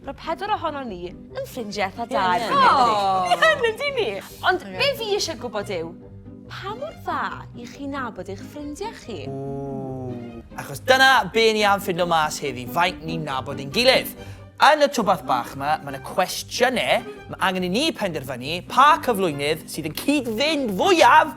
Roedd pedwar ohonon ni yn ffrindiau eitha da erbyn hyn, yndyn ni? Ie, yn yndyn ni! Ond be fi isie gwybod yw, pa mor dda i chi nabod eich ffrindiau chi? Achos dyna be ni am ffindo mas heddi, faint ni'n nabod ein gilydd. Yn y twbath bach ma, ma na cwestiynau ma angen i ni penderfynu pa cyflwynydd sydd yn cyd-fynd fwyaf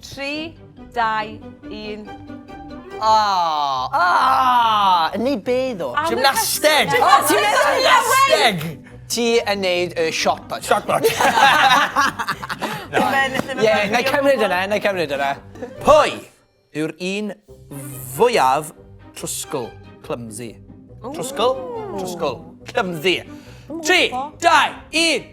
3, 2, 1. Aww! Aww! Yn neud be ddo? Gymnasteg! O, ti'n neud gymnasteg! Ti yn neud y shot put. Shot put. Ie, na i cymryd yna, na i cymryd yna. Pwy yw'r un fwyaf trwsgl, clumsy? Trwsgl? Trwsgl. Clumsy. 3, 2, 1.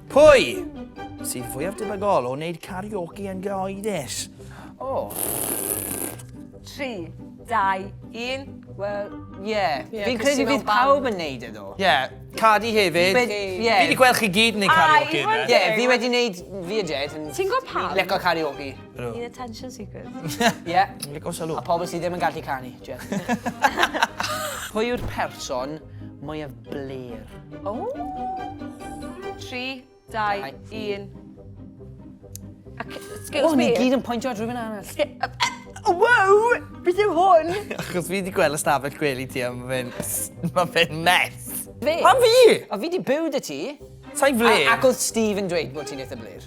Pwy sydd fwyaf debygol o wneud karaoke yn gyhoeddus? O. 3, 2, 1. Wel, ie. Fi'n credu bydd pawb yn neud e ddo. Ie, Cardi hefyd. Fi wedi gweld chi gyd yn neud karaoke. Ie, fi wedi neud fi a Jed. Ti'n gwybod pam? Fi'n licio karaoke. Ni'n attention seekers. Ie. Ni'n licio sylw. A pobl sydd ddim yn gallu canu, Jed. Pwy yw'r person mwyaf bler? O! 3, 2, 1. Excuse oh, me. Ni gyd yn pwyntio at rhywun arall. Wow! Beth yw hwn? Achos fi wedi gweld y stafell gwely ti am fe'n... Mae fe'n mess. Fe? A fi? A fi wedi byw dy ti. Sa'i fle? Ac oedd Steve yn dweud bod ti'n eitha blir.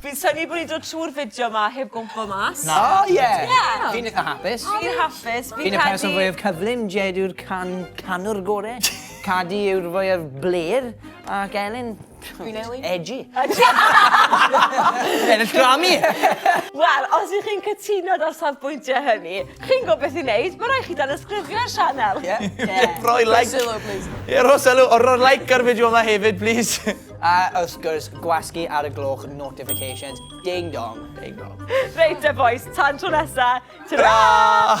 Fi'n synnu bod ni'n dod trwy'r fideo ma heb gwmpo mas. Na. O ie! Ie! Fi'n itha hapus. Fi'n hapus, fi'n credu... Fi'n y person fwyaf cyflym, Jed yw'r can- canwr gore, Cadi yw'r fwyaf blêr, ac Elin... Fi'n Elin. ...edgy. Ennill Grammy! Wel, os ych chi'n cytuno da'r safbwyntiau hynny, chi'n gwybod beth i wneud, mae rhaid chi danysgrifio'r sianel. Ie. Ie. Rhoi like. Rhoi sylw, plis. Ie, rhoi sylw, a rhoi like ar y fideo yma hefyd, plis. A wrth gwrs, gwasgu ar y gloch notifications. Ding dong. Ding dong. Reit te bois, tan tro nesa, tara!